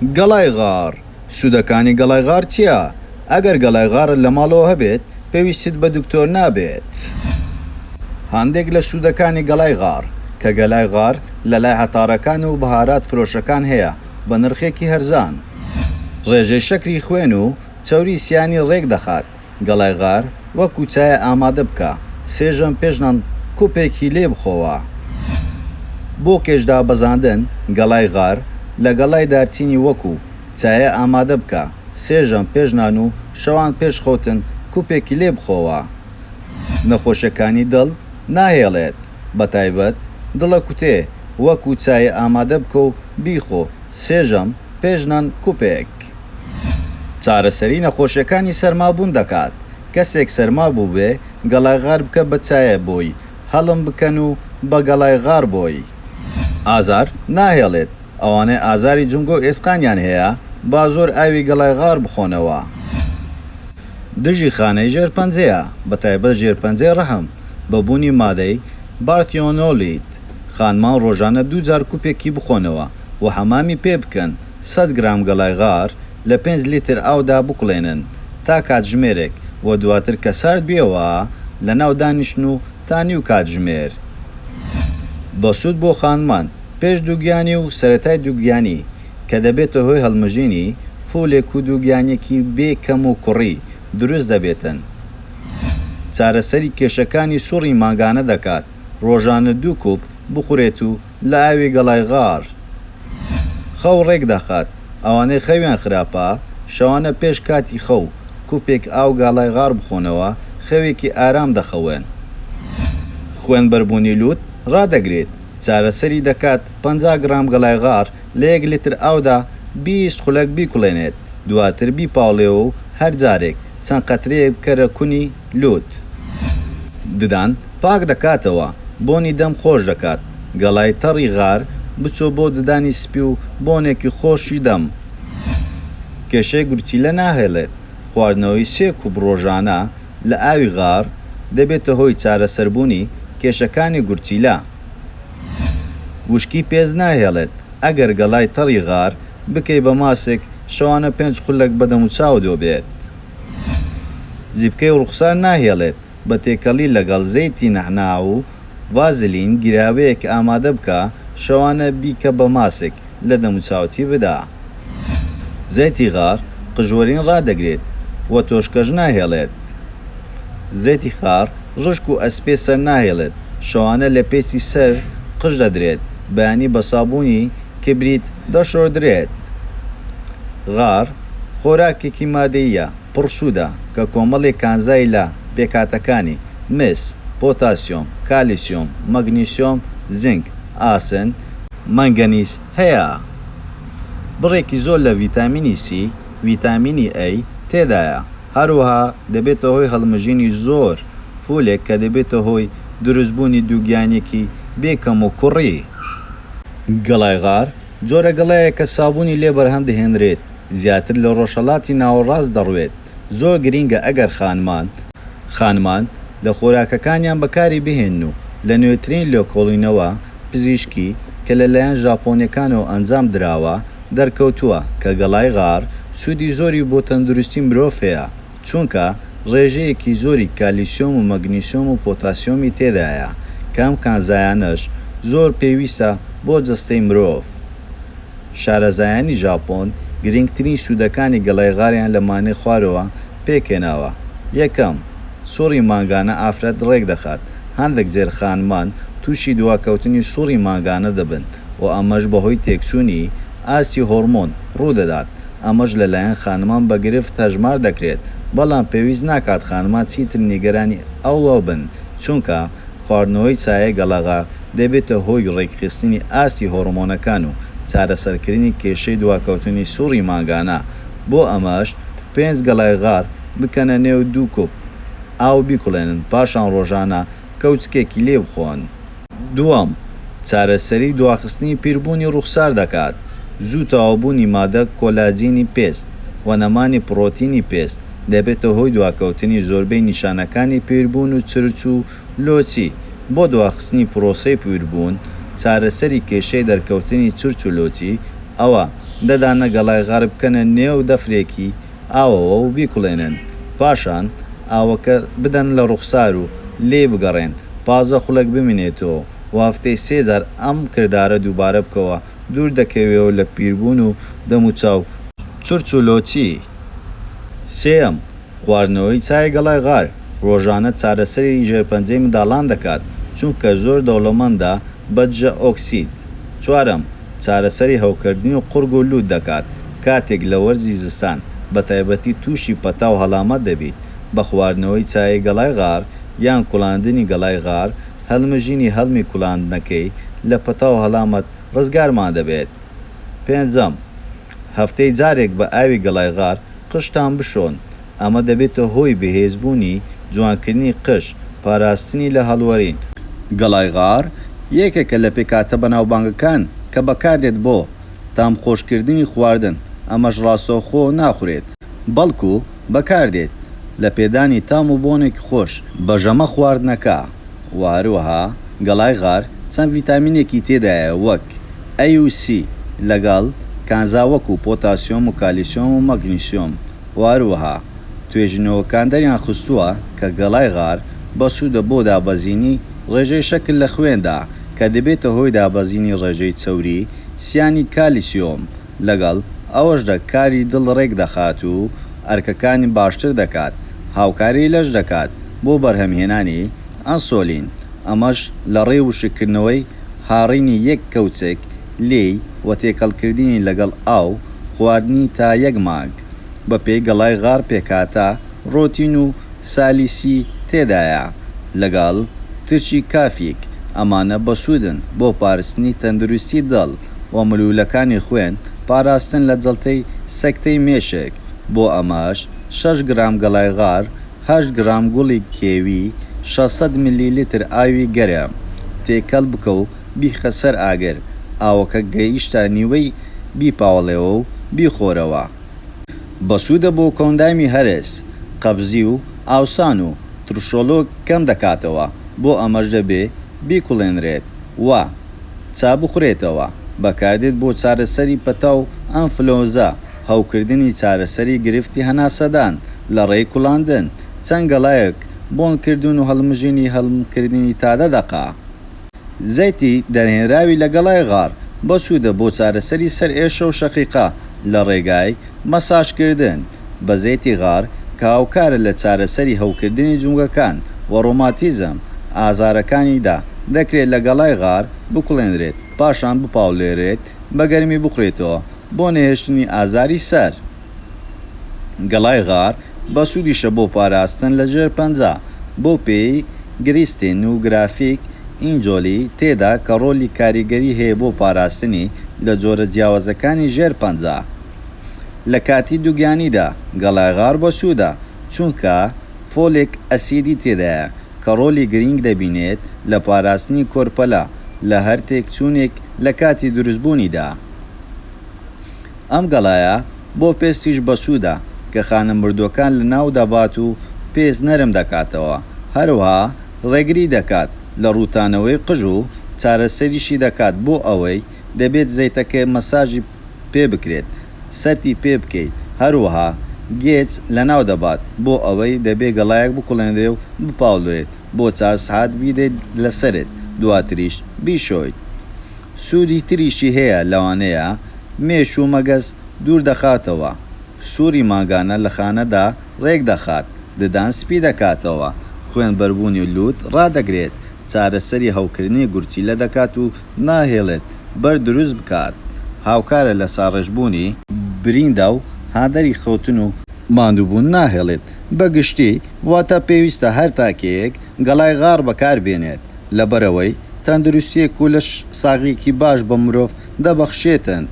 گەڵای غاڕ، سوودەکانی گەڵای غاڕ چییە؟ ئەگەر گەڵای غاڕت لە ماڵەوە هەبێت، پێویستت بە دکتۆر نابێت. هەندێک لە سوودەکانی گەڵای غاڕ، کە گەلای غاڕ لە لای عەتارەکان و بەهارات فرۆشەکان هەیە بە نرخێکی هەرزان. ڕێژەی شەکری خوێن و چەوری سیانی ڕێک دەخات. گەڵای غار وە کوچایە ئامادە بکە سێ ژەم پێش نان کوپێکی لێ بخۆوە بۆ کێش دابەزاندن گەڵای غار لە گەڵای دارچینی وەکو چایە ئامادە بکە سێ ژەم پێش نان و شەوان پێش خەوتن کوپێکی لێ بخۆوە نەخۆشیەکانی دڵ ناهێڵێت بەتایبەت دڵە کوتێ وەکو چایە ئامادە بکە و بیخۆ سێ ژەم پێش نان کوپێک. چارەسەری نەخۆشیەکانی سەرمابوون دەکات، کەسێک سەرما بووبێ گەڵای غار بکە بە چایە بۆی هەڵم بکەن و بە گەڵای غار بۆی ئازار ناهێڵێت، ئەوانەی ئازاری جومگە و ئێسقانیان هەیە با زۆر ئاوی گەڵای غار بخۆنەوە. دژی خانەی ژێر پەنجەیە بە تایبەت ژێر پەنجەی ڕەحم بە بوونی مادەی، بارثیۆنۆلیت، خانمان ڕۆژانە دوو جار کوپێکی بخۆنەوە و حەمامی پێ بکەن، سەد گرام گەڵای غار لە پێنج لیتر ئاودا بکوڵێنن تا کاتژمێرێک و دواتر کە سارد بیەوە لەناو دانیشن و تا نیو کاتژمێر بەسوود بۆ خانمان پێش دووگیانی و سەرەتای دووگیانی کە دەبێتە هۆی هەڵمژینی فولێک و دووگیانیەکی بێ کەم و کوڕی دروست دەبێتن چارەسەری کێشەکانی سوڕی مانگانە دەکات ڕۆژانە دوو کوپ بخورێت و لە ئاوی گەڵای غار خەو ڕێک دەخات، ئەوانەی خەویان خراپە شەوانە پێش کاتی خەو کوپێک ئاو گەڵای غار بخۆنەوە خەوێکی ئارام دەخەون. خوێن بەربوونی لووت ڕادەگرێت، چارەسەری دەکات، پەنجا گڕام گەڵای غار لە یەک لیتر ئاودا بیست خولەک بیکوڵێنێت دواتر بیپاوڵێوە و هەر جارێک چەند قەترەیەک بکەرە کونی، لووت ددان پاک دەکاتەوە، بۆنی دەم خۆش دەکات، گەڵای تەڕی غار بچۆ بۆ ددانی سپی و بۆنێکی خۆشی دەم کێشەی گورچیلە ناهێڵێت، خواردنەوەی سێ کوپ ڕۆژانە لە ئاوی غار دەبێتە هۆی چارەسەربوونی کێشەکانی گورچیلە، وشکی پێست ناهێڵێت، ئەگەر گەڵای تەڕی غار بکەی بە ماسک شەوانە پێنج خولەک بە دەموچاوت وەبێت. زیپکەی ڕووخسار ناهێڵێت، بە تێکەڵی لەگەڵ زەیتی نەعنا و ڤازلین گیراوەیەک ئامادە بکە، شەوانە بیکە بە ماسک، لە دەموچاوتی بدە. زەیتی غار قژوەرین ڕادەگرێت و تۆشکەش ناهێڵێت. زەیتی خار ڕشک و ئەسپێ سەر ناهێڵێت، شەوانە لە پێستی سەر قژ دەدرێت، بەیانی بە سابوونی کبریت دەشۆردرێت. غار. خۆراکێکی مادەییە پڕ سوودە کە کۆمەڵێک کانزای لە پێکهاتەکانی، مس، پۆتاسیۆم، کالیسیۆم، مەگنیسیۆم، زینک، ئاسن، مەنگەنیز، هەیە، بڕێکی زۆر لە ڤیتامینی سی، ڤیتامینی ئەی، تێدایە، هەروەها دەبێتە هۆی هەڵمژینی زۆر فولێک کە دەبێتە هۆی دروستبوونی دووگیانیەکی بێ کەموکوڕی گڵای غار. جۆرە گەڵایە کە سابوونی لێ بەرهەم دەهێنرێت زیاتر لە ڕۆژهەڵاتی ناوەڕاست دەڕوێت، زۆر گرینگە ئەگەر خانمان، خانمان لە خۆراکەکانیان بەکاری بهێنن و لە نوێترین لێکۆڵینەوە پزیشکی کە لە لایەن ژاپۆنیەکانەوە ئەنجام دراوە دەرکەوتووە کە گەڵای غار سوودی زۆری بۆ تەندروستی مرۆڤ هەیە. چونکە ڕێژەیەکی زۆری کالیسیۆم و مەگنیسیۆم و پۆتاسیۆمی تێدایە کە ئەم کانزایانەش زۆر پێویستە بۆ جەستەی مرۆڤ. شارەزایانی ژاپۆن گرنگترین سوودەکانی گەڵای غاریان لە مانگی خوارەوە پێکهێناوە، یەکەم، سوڕی مانگانە ئافرەت ڕێکدەخات، هەندێک زێرخانمان تووشی دواکەوتنی سوڕی مانگانە دەبن و ئەمەش بەهۆی تێکچوونی ئاستی هۆڕمۆن ڕوودەدات. ئەمەش لە لایەن خانمان بە گرفت هەژمار دەکرێت، بەڵام پێویست ناکات خانمان چیتر نیگەرانی ئەوە بن، چونکە خواردنەوەی چایە گەڵاغە دەبێتە هۆی ڕێکخستنی ئاستی هۆڕمۆنەکان و چارەسەرکردنی کێشەی دواکەوتنی سوڕی مانگانە، بۆ ئەمەش پێنج گەڵای غار بکەنە نێو دوو کوپ ئاو بیکوڵێنن، پاشان ڕۆژانە کەوچکێکی لێ بخۆن. دووەم، چارەسەری دواخستنی پیربوونی ڕووخسار دەکات، زوو تەواوبوونی مادە کۆلاجینی پێست و نەمانی پڕۆتینی پێست دەبێتە هۆی دواکەوتنی زۆربەی نیشانەکانی پیربوون و چرچ و لۆچی، بۆ دواخستنی پرۆسەی پیربوون چارەسەری کێشەی دەرکەوتنی چرچ و لۆچی، ەوە، ددانە گەڵای غەربکەنە نێو دەفرێکی ئاوەوە و بیکوڵێنن، پاشان ئاوەکە بدەن لە ڕوخسار و لێی بگەڕێن پازدە خولەک بمینێتەوە و هەفتەی سێ جار ئەم کردارە دووبارە بکەوە دوور دەکەوێەوە لە پیربوون و دەم و چاو چرچ و لۆچی. سێیەم، خواردنەوەی چای گەڵای غار ڕۆژانە چارەسەری ژێرپەنجەی منداڵان دەکات چونکە زۆر دەوڵەمەندە بە دژە ئۆکسید. دەکات. چوارەم، چارەسەری هەوکردنی و قوڕگ و لووت دەکات، کاتێک لە وەرزی زستان بە تایبەتی تووشی پەتا و هەڵامەت دەبیت، بە خواردنەوەی چایی گەڵای غار یان کوڵاندنی گەڵای غار، هەڵمژینی هەڵمی کوڵاندنەکەی، لە پەتا و هەڵامەت ڕزگارمان دەبێت. پێنجەم. هەفتەی جارێک بە ئاوی گەڵای غار قژتان بشۆن، ئەمە دەبێتە هۆی بەهێزبوونی، جوانکردنی قژ، پاراستنی لە هەڵوەرین. گەڵای غار یەکێکە لە پێکهاتە بەناوبانگەکان کە بەکاردێت بۆ تامخۆشکردنی خواردن، ئەمەش ڕاستەوخۆ ناخورێت، بەڵکو بەکاردێت لە پێدانی تام و بۆنێکی خۆش بە ژەمە خواردنەکە و هەروەها گەڵای غار چەند ڤیتامینێکی تێدایە وەک ئەی و سی لەگەڵ کانزا وەکو پۆتاسیۆم و کالیسیۆم و مەگنیسیۆم و هەروەها توێژینەوەکان دەریان خستووە کە گەڵای غار بەسوودە بۆ دابەزینی ڕێژەی شەکر لە خوێندا کە دەبێتە هۆی دابەزینی ڕێژەی چەوری سیانی کالیسیۆم لەگەڵ ئەوەشدا کاری دڵ ڕێک دەخات و ئەرکەکانی باشتر دەکات، هاوکاری لەش دەکات بۆ بەرهەمهێنانی ئەنسۆلین، ئەمەش لەڕێی وشککردنەوەی هاڕینی یەک کەوچک لێی و تێکەڵکردنی لەگەڵ ئاو، خواردنی تا یەک مانگ بەپێی گەڵای غار پێکهاتە. ڕۆتین و سالیسی تێدایە لەگەڵ ترشی کافیک، ئەمانە بەسوودن بۆ پارستنی تەندروستی دڵ و ملوولەکانی خوێن، پاراستن لە جەڵتەی سەکتەی مێشک، بۆ ئەمەش شەش گرام گەڵای غار، هەشت گرام گوڵی کێوی، شەش سەد ملیلیتر ئاوی گەرم تێکەڵ بکە و بیخە سەر ئاگر، ئاوەکە گەیشتە نیوەی بیپاوڵێوە و بیخۆرەوە. بەسوودە بۆ کۆندامی هەرس، قەبزی و ئاوسان و ترشۆڵۆک کەم دەکاتەوە، بۆ ئەمەش دەبێ بیکوڵێنرێت و چا بخورێتەوە، بەکاردێت بۆ چارەسەری پەتا و ئەنفلۆنزا، هەوکردنی چارەسەری گرفتی هەناسەدان لە ڕێی کوڵاندن، چەند گەڵایەک بۆنکردن و هەڵمژینی هەڵمکردنی تا دە دەقە. زەیتی دەرهێنراوی لە گەڵای غار بەسوودە بۆ چارەسەری سەرئێشە و شەقیقە لە ڕێگای، مەساژکردن بە زەیتی غار کە هاوکارە لە چارەسەری هەوکردنی جومگەکان و ڕۆماتیزم ئازارەکانیدا، دەکرێت لە گەڵای غار بکوڵێنرێت پاشان بپاولێرێت بە گەرمی بخورێتەوە بۆ نەهێشتنی ئازاری سەر. گەڵای غار بەسوودیشە بۆ پاراستن لە ژێرپەنجە، بەو پێیەی گریستین و گرافیک ئینجۆلی تێدا کە ڕۆلی کاریگەری هەیە بۆ پاراستنی لە جۆرە جیاوازەکانی ژێر پەنجە. لە کاتی دووگیانیدا گەڵای غار بەسوودە چونکە فۆلێک ئەسیدی تێدایە کە ڕۆلی گرینگ دەبینێت لە پاراستنی کۆرپەلە لە هەر تێکچوونێک لە کاتی دروستبوونیدا. ئەم گەڵایە بۆ پێستیش بەسوودە کە خانە مردووەکان لەناو دەبات و پێست نەرم دەکاتەوە، هەروەها ڕێگری دەکات لە ڕووتانەوەی قژ و چارەسەریشی دەکات بۆ ئەوەی دەبێت زەیتەکە مەساجی پێ بکرێت سەرتی پێ بکەیت هەروەها گێچ لەناو دەبات بۆ ئەوەی دەبێت گەڵایەک بکوڵێنرێ و بپاولرێت. بۆ چار سعات بیدەیت لەسەرت دواتریش بیشۆیت سوودی تریشی هەیە لەوانەیە مێش و مەگەز دوور دەخاتەوە سووڕی مانگانە لە خانەدا ڕێک دەخات ددان سپی دەکاتەوە خوێن بەربوونی لووت ڕادەگرێت چارەسەری هەوکردنی گورچیلە دەکات و ناهێڵێت بەرد دروست بکات هاوکارە لە ساڕێژبوونی بریندا و هاندەری خەوتن و ماندووبوون ناهێڵێت بە گشتی واتە پێویستە هەر تاکێک گەڵای غاڕ بەکار بێنێت لەبەرئەوەی تەندروستیەک و لەش ساغیەکی باش بە مرۆڤ دەبەخشێتن.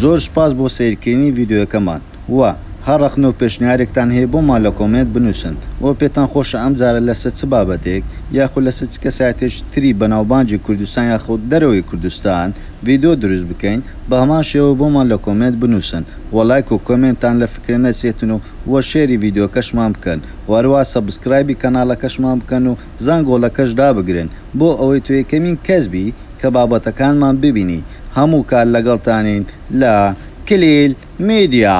زۆر سوپاس بۆ سەیرکردنی ڤیدیۆیەکەمان و هەر ڕەخنە و پێشنیارێکتان هەیە بۆمان لە کۆمێنت بنووسن و پێتان خۆشە ئەم جارە لەسەر چ بابەتێک یاخود لەسەر چ کەسایەتێکی تری بەناوبانگی کوردستان یاخود دەرەوەی کوردستان ڤیدیۆ دروست بکەین بەهەمان شێوە بۆمان لە کۆمێنت بنووسن و لایک و کۆمێنتان لە فکرە نەچێتن و وە شێری ڤیدۆکەشمان بکەن وە هەروا سەبسکرایبی کەنالەکەشمان بکەن و زەنگۆڵەکەش دابگرن بۆ ئەوەی تۆ یەکەمین کەس بی کە بابەتەکانمان ببینی هەموو کات لەگەڵتانین لە کلیل میدیا.